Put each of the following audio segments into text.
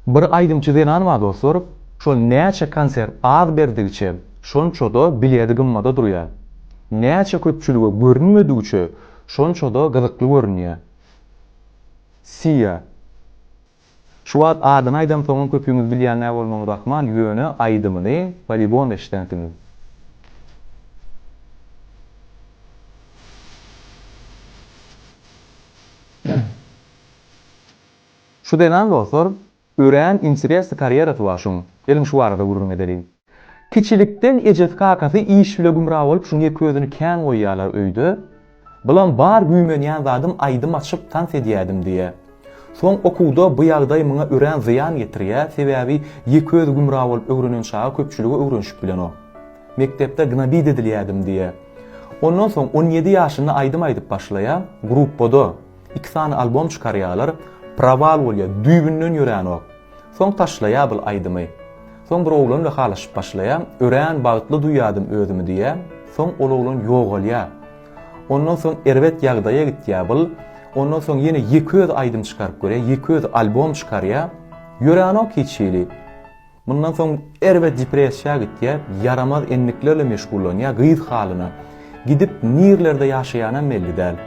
Bir aýdymçy zenan bar dostlar, şol näçe konsert az berdigiçe şonçada bileti gymmada durýar. Näçe köpçülige görünmedigiçe şonçada gyzykly görünýär. Sia. Şu wagt adyny aýdamsoňam köpüňiz bilýän näbolmagyňyz ahmal, ýöne aýdymyny polibom eşidänsiňiz. Şu zenan bolsa örän interesli karýerasy bar şuň. Geliň şu barada gürrüň edeliň. Kiçilikden ejesi kakasy iş bile gümra bolup şuň ýeke özüni kän goýýarlar öýde. Bulam bar güýmenýän zadym aýdym açyp tans edýädim diýýä. Soň okuwda bu ýagdaý muňa örän zyýan getirýä sebäbi ýeke özi gümra bolup öwrenen çaga köpçüligi öwrenşip bilenok. Mekdepde gnobit edilýädim diýýä. Ondan soň on ýedi ýaşynda aýdym aýdyp başlaýa, gruppada. Iki sany albom çykarýalar Proval bolýa düýbünden ýöränok Soň taşlaýa bul aýdymy Soň bir oglan bilen halaşyp başlaýa Örän bagtly duýýadym özümi diýä Soň ol oglan ýogalýa Ondan soň erbet ýagdaýa gitýä bul Ondan soň ýene ýeke özi aýdym çykaryp görýä ýeke özi albom çykarýa Ýöränok hiç hili Mundan soň Erwe depressiýa gitýär, ýaramaz endiklerle meşgullanýar, gyz halyna gidip nirlerde ýaşaýanam belli däl.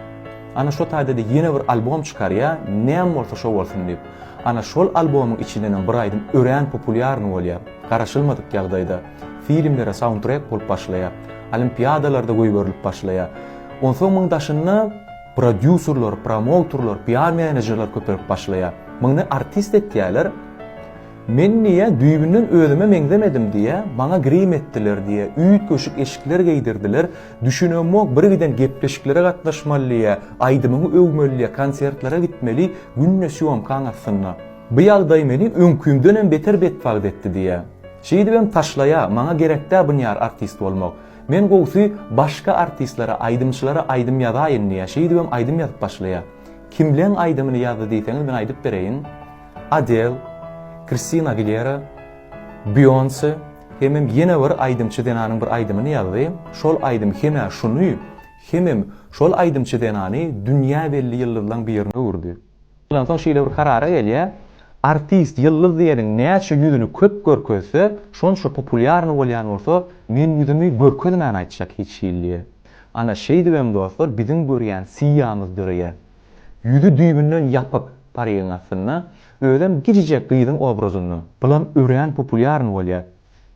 Ana şo taýda-da ýene bir albom çykarýar, näme bolsa şo bolsun diýip. Ana şol albomyň içindenem bir aýdym örän populýarny bolýar. Garaşylmadyk ýagdaýda filmlere saundtrek bolup başlaýar, olimpiadalarda goýberilip başlaýar. Onsoň muň daşynda prodýuserler, promouterler, PR-menejerler köpelip başlaýar. Muny artist etýärler. Men diýýä, düýbünden özüme meňzemedim diýýä, maňa grim etdiler diýýä, üýtgeşik eşikler geýdirdiler, düşünemok, birgiden gepleşiklere gatnaşmaly diýýä, aýdymyňy öwmeli diýýä, konsertlere gitmeli, günde sýomkaň astynda. Bu ýagdaý meni öňkümdenem beter betbagt etdi diýýä. Şeýdibem taşlaýa, maňa gerek dä bunyar artist bolmak. Men gowsy başga artistlere, aýdymçylara aýdym ýazaýyn diýýä, şeýdibem aýdym ýazyp başlaýa. Kimleň aýdymyny ýazdy diýseňiz men aýdyp bereýin. Adel, Kristina Agilera, Beýonse hemem ýene bir aýdymçy zenanyň bir aýdymyny ýazdy. Şol aýdym hemä şuny, hemem şol aýdymçy zenany dünýä belli ýyldyzlaň birine öwürdi. Ondan soň şeýle bir karara gelýär, artist, ýyldyz diýeniň näçe ýüzüni köp görkezse, şonça populýarny bolýan bolsa, men ýüzümi görkezmän aýtjak hiç hiliýe. Ana, şeýdibem dostlar biziň görýän Siýamyz döreýär. Ýüzi düýbünden ýapyk parygyň astynda, özem gijijek gyzyň obrazynda. Bulam örän populýarny bolýar.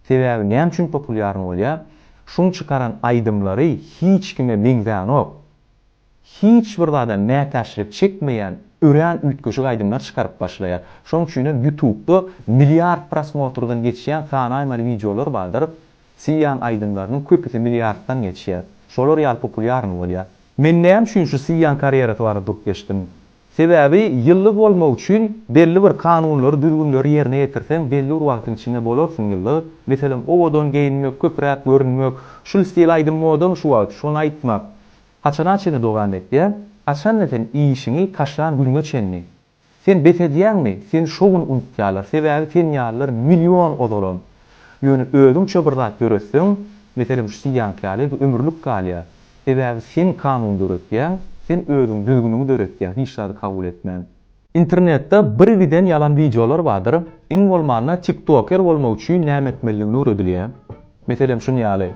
Sebäbi näme üçin populýarny bolýar? Şuň çykaran aýdymlary hiç kime meňzänok. Hiç bir zada mätäçlik çekmeýän örän üýtgeşik aýdymlar çykaryp başlaýar. Şoň üçinem ýutubda milliard prosmotrdan geçýän sanaýmaly wideolar bardyr. Syýan aýdymlarynyň köpüsi milliarddan geçýär. Şolar ýaly populýarny bolýar. Men näme üçin şu Syýan karýerasy barada durup geçdim? Sebäbi ýyldyz bolmak üçin belli bir kanunlary, düzgünleri ýerine ýetirseň belli bir wagtyň içinde bolarsyň ýyldyz. Meselem, owadan geýinmek, köpräk görünmek, şul stil aýdym modamy şu wagt, şony aýtmak. Haçana çenli dogany etýäň? Haçanda sen işiňi taşlan günüňe çenli? Sen bes edýäňmi? Seni şo gün unutýarlar, sebäbi sen ýalylar million ozalam. Ýöne özüňçe bir zat döretseň, meselem şu Siýank ýaly, bu ömürlik galýar. Sebäbi sen kanun döretýäň, sen özüň düzgüniňi döretýäň, hiç zady kabul etmän. Internetde birgiden ýalan wideolar bardyr, iň bolmanda tiktoker bolmak üçin näme etmelidigini öwredilýär. Meselem şuny ýaly,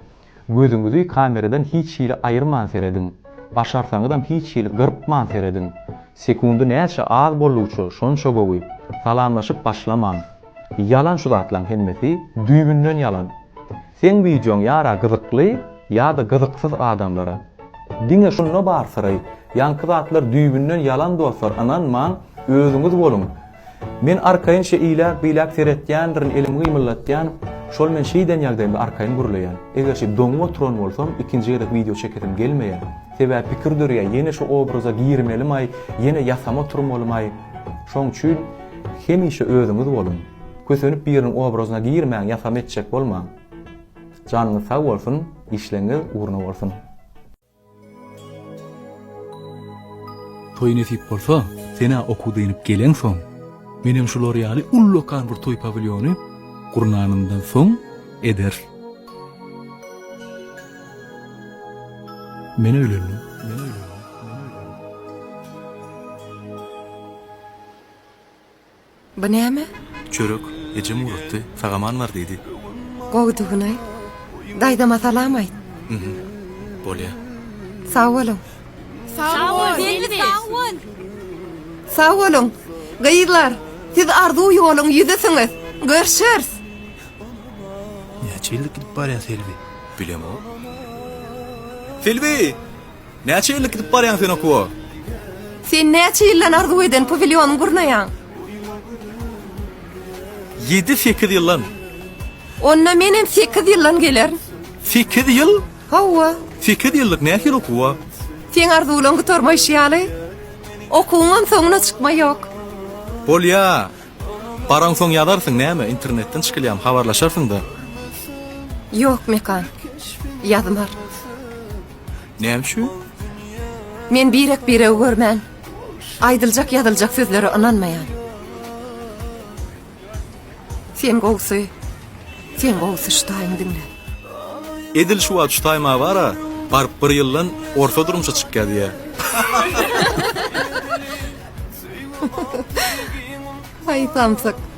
Gözüňizi kameradan hiç hili aýyrman serediň. Başarsaňyzam hiç hili gyrpman serediň. Sekundy näçe az boldugyça şonça gowy. Salamlaşyp başlamaň. Ýalan şu zatlaň hemmesi, düýbünden ýalan. Seň wideoň ýara gyzykly, ýada gyzyksyz adamlara. Diňe şunda bar syry. Ýaňky zatlar düýbünden ýalan dostlar ynanmaň, özüňiz boluň. Men arkaýyn şe iläk biläk seretýändirin elimi gymyldatýan şol men şeýden ýagdaýymda arkaýyn gürleýän egerçe doňup oturan bolsam ikinji gezek wideo çekesim gelmeýä sebäbi pikir dörýä ýene şu obraza girmelimaý ýene ýasama oturmalymaý şoň üçin hemişe özüňiz boluň kösenip biriniň obrazyna girmäň ýasama etjek bolmaň janyňyz sag bolsun işleňiz ugruna bolsun. Toý nesip bolsa, sen-ä okuw dynyp geleňsoň, menem şular ýaly ullakan bir toý pawilýony gurnanymdan soň ederis. Men öýlendim. Bu näme? Çörek. Ejem ugratdy. Sag-aman bar diýdi. Gowudygyny-aý. Daýzama salam aýt. Hm. Bolýar. Sag boluň. Sag bol, gelni sag bol. Sag boluň. Gyzlar, siz arzuw ýoluň ýüzüsiňiz. Görşeris. Näçe ýyllyk gidip barýa Selbi? Bilemok. Selbi! Näçe ýyllyk gidip barýaň sen okuwa? Sen näçe ýyldan arzuw eden pawilýonyň gurnaýaň? Ýedi, sekiz ýyldan. Onda menem sekiz ýyldan gelerin. Sekiz ýyl? Hawa. Sekiz ýyllyk nähili okuwa? Seň arzuwlaň gutarmaýşy ýaly, okuwyňam soňuna çykma ýok. Bolýa. Baraňsoň ýazarsyň, näme, internetden çykylýamy, habarlaşarsyň-da. Ýok, Mekan. Ýazmar. Näme üçin? Men birek-biregi görmän, aýdyljak-ýazyljak sözlere ynanmaýan. Sen gowusy, sen gowusy şutaýyň diňle. Edil şu wagt şutaý ma bar-a, baryp bir ýyldan orta durmuşa çykýadýa. Haý samsyk.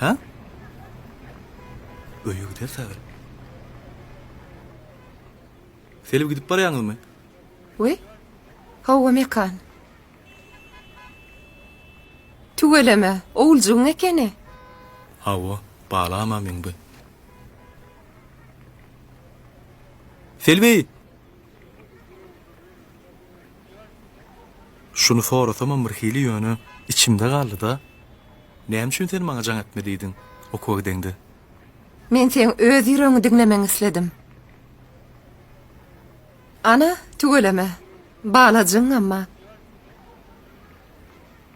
Hä? Öýe gider sagry. Selbi gidip barýaňyzmy? We? Hawa mekan. Tüweleme, owuljygyň ekeni. Hawa, balama meňbi. Selbi! Şuny sorasamam birhili ýöne içimde galdy-da. Näme üçin sen maňa jaň etme diýdiň okuwa gideňde? Men seň öz ýüregiňi diňlemegiňi isledim. Ana, tüweleme. Bala jyňňama.